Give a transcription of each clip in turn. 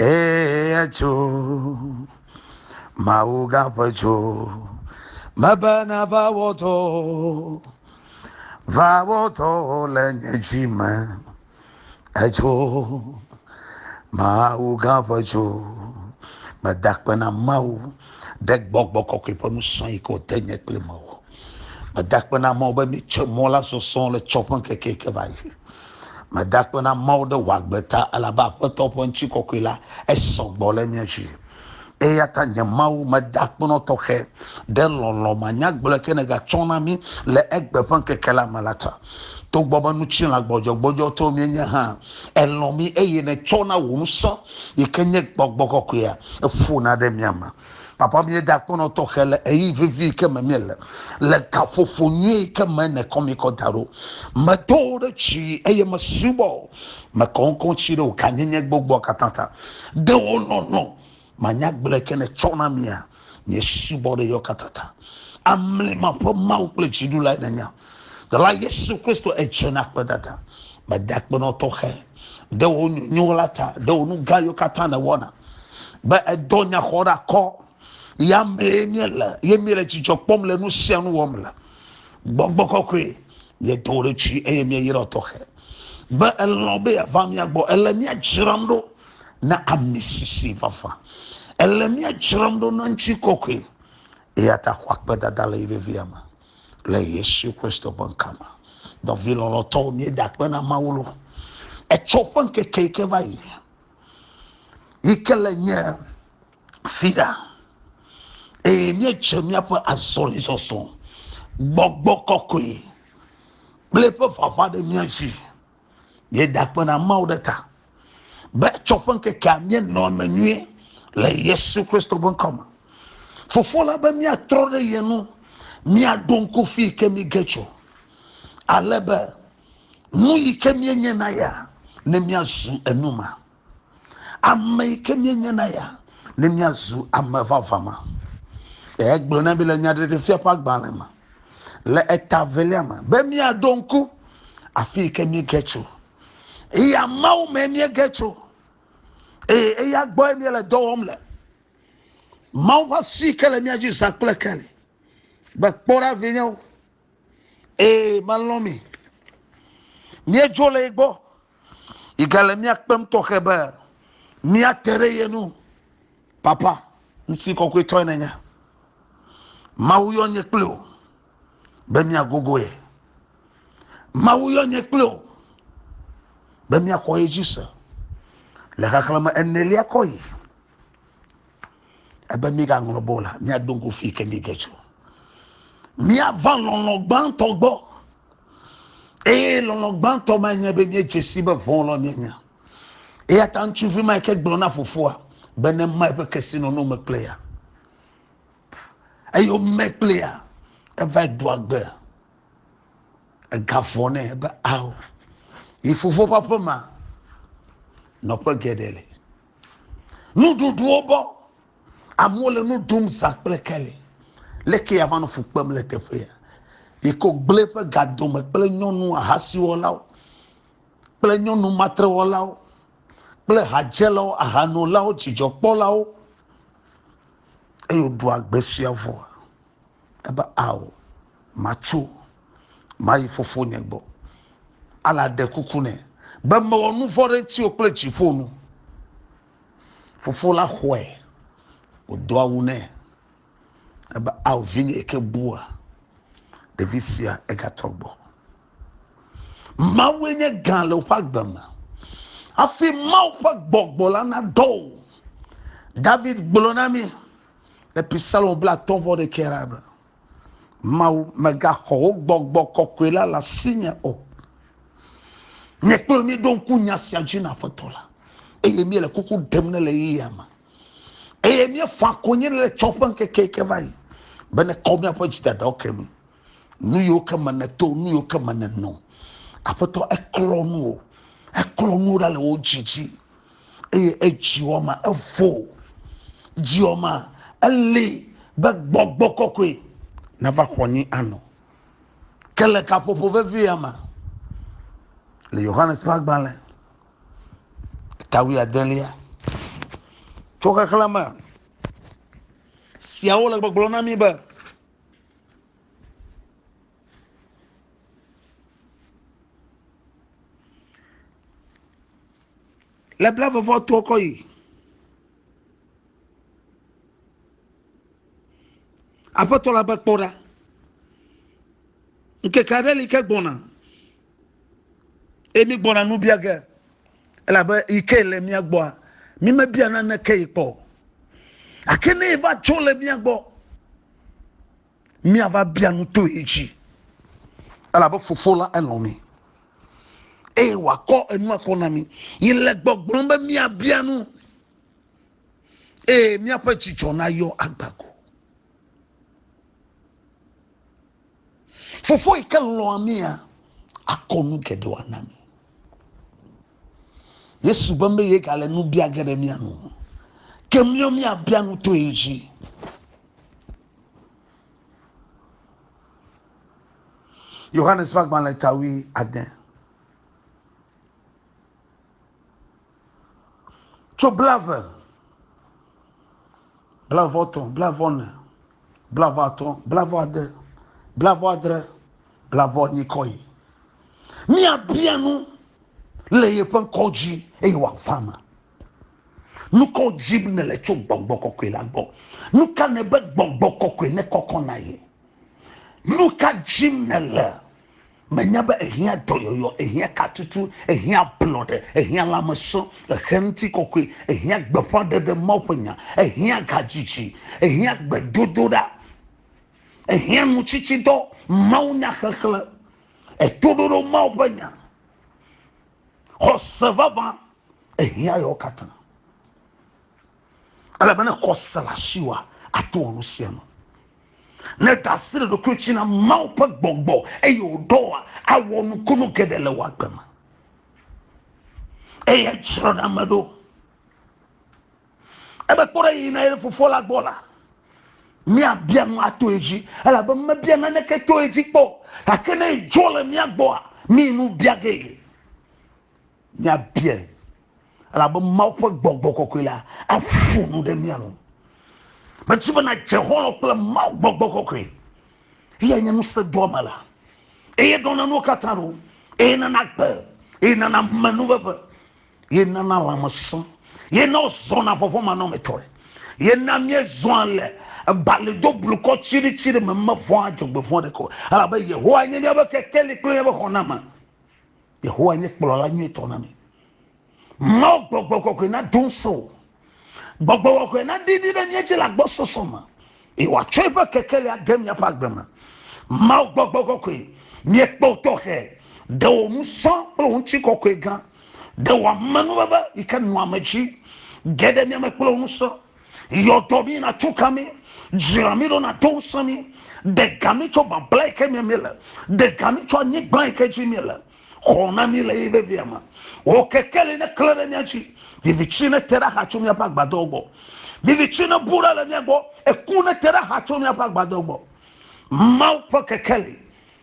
Ee, etso, Mawu gaƒe tso, mebe nava wɔtɔ, va wɔtɔ le nye dzi me. Etso, Mawu gaƒe tso, meda kpe na Mawu ɖe gbɔgbɔ kɔkɔe ƒe nusrɔ̃ yi ke wòde nye kple mewɔ. Meda kpe na Mawu be metsɔ mɔ la sɔsɔ le tsɔ ƒe ŋkeke yi ke va yi. Meda akpe na Mawu ɖe wò agbe ta, elabe Aƒetɔ ƒe ŋutikɔkɔe la, esɔ gbɔ le mía dzi. Eya ta nye Mawu, meda akpe nɔ tɔxɛ ɖe lɔlɔ̃ manyagblɔe ke nègatsɔ na mí le egbe ƒe ŋkeke la me la ta. Togbɔ be ŋutilã gbɔdzɔgbɔdzɔtɔwo míenye hã, èlɔ̃ mí eye nètsɔ na wò ŋusẽ, yi ke nye gbɔgbɔ kɔkɔea, eƒona ɖe mía me. Papa, míeda akpɔnɔ tɔxɛ le ɣeyiɣi vevi yi ke me míele, le gaƒoƒo nyui yi ke me nèkɔ mí kɔ da ɖo. Medo wò ɖe dzi eye mesubɔ wò, mekɔ ŋkɔ ŋuti ɖe wò gãnyenye gbogboa katã ta. Ɖe wò lɔlɔ̃ manya agblɔ yi ke nètsɔ na mía, míesubɔ ɖe eya katã ta. Amlima ƒe Mawu kple Dziɖulae nènye. Dɔla Yesu Kristo edze na kpedada. Mede akpe nɔ tɔxɛ ɖe wò nyonyo la ta, ɖe wò nu gã yiwo katã nèwɔna, be èdɔ nya xɔ ɖe akɔ. Ya mee míele, ye míele dzidzɔ kpɔm le nu sia nu wɔm le. Gbɔgbɔ kɔkɔe, míedo wò ɖokuiɖi eye míeyra tɔxɛ be èlɔ̃ be yeava mía gbɔ. Èle mía dzram ɖo na amisisi vavã. Èle mía dzram ɖo na ŋutikɔkɔe. Eya ta xɔ akpedada le yi vevia me. Le Yesu Kristo ƒe ŋkɔ me, nɔvi lɔlɔ̃tɔwo, míeda akpe na Mawu lo. Etsɔ ƒe ŋkeke yi ke va yi, yi ke le nye fia, eye míedze míaƒe azɔlizɔzɔ gbɔgbɔ kɔkɔe kple eƒe vava ɖe mía dzi. Míeda akpe na Mawu ɖe ta be tsɔ ƒe ŋkekea míenɔ eme nyuie le Yesu Kristo ƒe ŋkɔ me. Fofo la be míatrɔ ɖe ye nu, míaɖo ŋku fi yi ke míge tso, ale be nu yi ke míenye na ya ne míazu enuma. Ame yi ke míenye na ya ne míazu ame vavã ma. Egblɔ na mi le nyaɖeɖefia ƒe agbalẽ me le eta velia me be míaɖo ŋku afi yi ke míege tso. Eya Mawu me míege tso eye eya gbɔe míele dɔ wɔm le. Mawu ƒe asi ke le mía dzi zã kple keli. Be kpɔ ɖa vinyewo. Ee, melɔ̃ mi. Míedzo le ye gbɔ. Yi gale mía kpem tɔxɛ be míate ɖe ye nu. Papa, ŋuti kɔkɔetɔe nenye. Mawu yɔ nye kple o be míagogo ye. Mawu yɔ nye kple o be míaxɔ ye dzi se le xexlẽme enelia kɔ yi. ebe mígaŋlɔ be o la, míado ŋku fi ke míege tso. Míava lɔlɔ̃ gbãtɔ gbɔ. Eye lɔlɔ̃ gbãtɔ ma nye be míedze si be vɔ̃lɔ míenye. Eya ta ŋutsuvi ma ke gblɔ na fofoa be ne ma eƒe kesinɔnɔ me kple ya. Eye wome kple ya, eva ɖu agbe. Egavɔ nɛ be ao. Yi fofo ƒe aƒe ma, nɔƒe geɖe le. Nuɖuɖuwo bɔ. Amewo le nu ɖum zã kple keli. Leke yeava nɔ fu kpem le teƒea? Yi ke wògblẽ eƒe ga dome kple nyɔnu ahasiwɔlawo kple nyɔnu matrewɔlawo kple hadzelawo, ahanolawo, dzidzɔkpɔlawo, eye wòɖu agbe suea vɔa? Ebe, Ao, matso. mayi fofonye gbɔ. Ala ɖe kuku nɛ be mewɔ nu vɔ̃ ɖe ŋutiwò kple dziƒo nu. Fofo la xɔe wòdo awu nɛ ebe ao vinye yi ke bua ɖevi sia egatrɔ gbɔ. Mawue nye gã le woƒe agbe me hafi Mawu ƒe gbɔgbɔ la nadɔ o. David gblɔ na mí le Psalm blaatɔ̃ vɔ ɖekɛ la be. Mawu, mègaxɔ wò gbɔgbɔ kɔkɔe la le asinye o. Nye kple wò míeɖo ŋku nya sia dzi na Aƒetɔ la, eye míele kuku ɖem ne le ɣeyiɣia me, eye míefaa konyi ne le tsɔ ƒe ŋkeke yi ke va yi, be nèkɔ míaƒe dzidadawo ke mí, nu yiwo ke me nèto, nu yiwo ke me nènɔ. Aƒetɔ, eklɔ nuwo, eklɔ nuwo ɖa le wò dzi dzi. eye edziwɔma evo dziwɔma eli be gbɔgbɔ kɔkɔe nava xɔ nyi anɔ ke le kaƒoƒo vevia me le yohanes ƒe agbalẽ tawiadelia tso xexlẽ me siawo le gbɔgblɔ na mi be Le bla vɔvɔ to kɔ yi. Aƒetɔ la be kpɔ ɖa. Ŋkeke aɖe li ke gbɔna. Emi gbɔna nu bia ge. Elabe yi ke le mia gbɔa, mi mebia naneke yi kpɔ. Ake ne va tso le mia gbɔ. míava bia nu to ye dzi elabe fofo la elɔ̃ mi eye wòakɔ enua kɔ na mi yi le gbɔgblɔm be míabia nu eye míaƒe dzidzɔ nayɔ agbago fofo yi ke lɔ̃a mia akɔ nu geɖewo ana mi yesu be meye gale nu bia ge ɖe mia nu ke míɔ míabia nu to ye dzi Yohanes ƒe agbalẽ ta wui ade. Tso blave, blave etɔ̃, blave ene, blave atɔ̃, blave ade, blave adre, blave enyi kɔ yi. Míabia nu le yeƒe ŋkɔ dzi eye wòava me. Nu kawo dzim nèle tso gbɔgbɔ kɔkɔe la gbɔ? Nu ka nèbe gbɔgbɔ kɔkɔe nekɔkɔ na ye? Nu ka dzim nèle? Menya be ehiã dɔyɔyɔ, ehiã katutu, ehiã ablɔɖe, ehiã lãmesẽ, ehiã ŋutikɔkɔe, ehiã gbeƒãɖeɖe Mawu ƒe nya, ehiã gadzidzi, ehiã gbedodoɖa, ehiã nutsitsidɔ, mawunyaxexlẽ, etoɖoɖo Mawu ƒe nya. xɔse vavã ehiã yewo katã ele be ne xɔse le asiwa ato wɔ nu sia nu ne ɖasi le ɖokui tsi na mawu ƒe gbɔgbɔ eye wòɖɔa awɔ nukunu geɖe le wòagbe me eye tsrɔ̃ɖame ɖo Ebe kpɔ ɖe yiyina ye ɖe Fofoa la gbɔ la, míabia nu ato edzi, elabe mebia naneke to edzi kpɔ o, gake ne edzɔ le mía gbɔa, mí nu bia ge ye. Míabiae, elabe Mawu ƒe gbɔgbɔ kɔkɔe la aƒo nu ɖe mía nu. Medi be nàdze xɔlɔ̃ kple Mawu gbɔgbɔ kɔkɔe, eyae nye ŋusẽdoamela, eye ɖɔna nuwo katã ɖo, eye nana gbe, eye nana menuveve. ye nana lãmesẽ ye na wozɔna vɔvɔ̃manɔmetɔe ye na míezɔa le ebali do blukɔ tsiɖitsiɖi me mevɔ̃a dzɔgbevɔ̃ ɖeke o elabe yehowa nye míaƒe kekeli kple míaƒe xɔname yehowa nye kplɔla nyuitɔ na mí mawo gbɔgbɔ kɔkɔe nado ŋusẽ o Gbɔgbɔ wɔwɔe naɖi ɖi ɖe mía dzi le agbɔsɔsɔ me, eye wòatsɔ eƒe kekeli ade míaƒe agbe me. Mawu gbɔgbɔ kɔkɔe, míekpɔ wò tɔxɛ, ɖe wò ŋusẽ kple wò ŋutikɔkɔe gã, ɖe wò amenuveve yi ke nɔa ame dzi ge ɖe mía me kple wò ŋusẽ. Yɔ dɔ mí nàtso ka mí, dzra mí ɖo nàdo ŋusẽ mí, ɖe ga mí tso babla yi ke me míele, ɖe ga mí tso anyigba yi ke dzi míele. xɔ na mí le ye vevia me. Wò kekeli neklẽ ɖe mía dzi, viviti nete ɖe axa tso míaƒe agbadɔwo gbɔ. Viviti nebu ɖa le mía gbɔ, eku nete ɖe axa tso míaƒe agbadɔwo gbɔ. Mawu ƒe kekeli,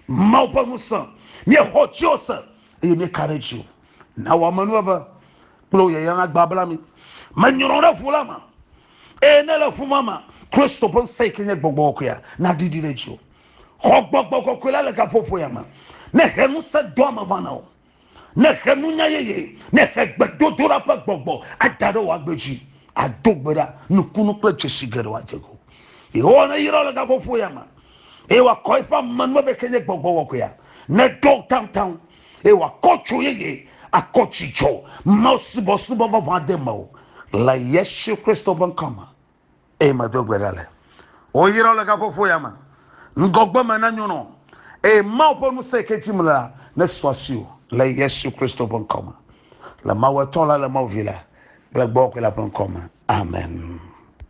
Mawu ƒe ŋusẽ, míexɔ dziwò se, eye míeka ɖe dziwò. Na wò amenuveve kple wò yayra nagbabla mí. Menyrɔ ɖe ʋu la me, eye ne le ʋu ma me, Kristo ƒe ŋusẽ yi ke nye gbɔgbɔ kɔkɔea naɖiɖi ɖe dziwò. Xɔ gbɔgbɔ kɔkɔe la le gaƒoƒoea me. Ne he ŋusẽ doa me va na wò. Ne he nunya yeye, ne he gbedodoɖa ƒe gbɔgbɔ ada ɖe wò agbe dzi. Ado gbe ɖa, nukunu kple dzesi geɖewo adze ŋuwò. Yehowa neyra wò le gaƒoƒoea me eye wòakɔ eƒe amenuveve ke nye gbɔgbɔ kɔkɔea. Neɖɔ taŋtaŋ eye wòakɔ dzo yeye, akɔ dzidzɔ, mawusubɔsubɔ vavã ade mewò le Yesu Kristo ƒe ŋkɔ me. eye medo gbe ɖa le woyra le gaƒoƒo ya me ŋgɔgbe me na nyɔnɔ eye mawu ƒe ŋusẽ ke dzim le la ne suasi o le yesu kristo ƒe ŋkɔ me le mawu etɔ la le mawu vi la kple gbɔgbɔ la ƒe ŋkɔ me amen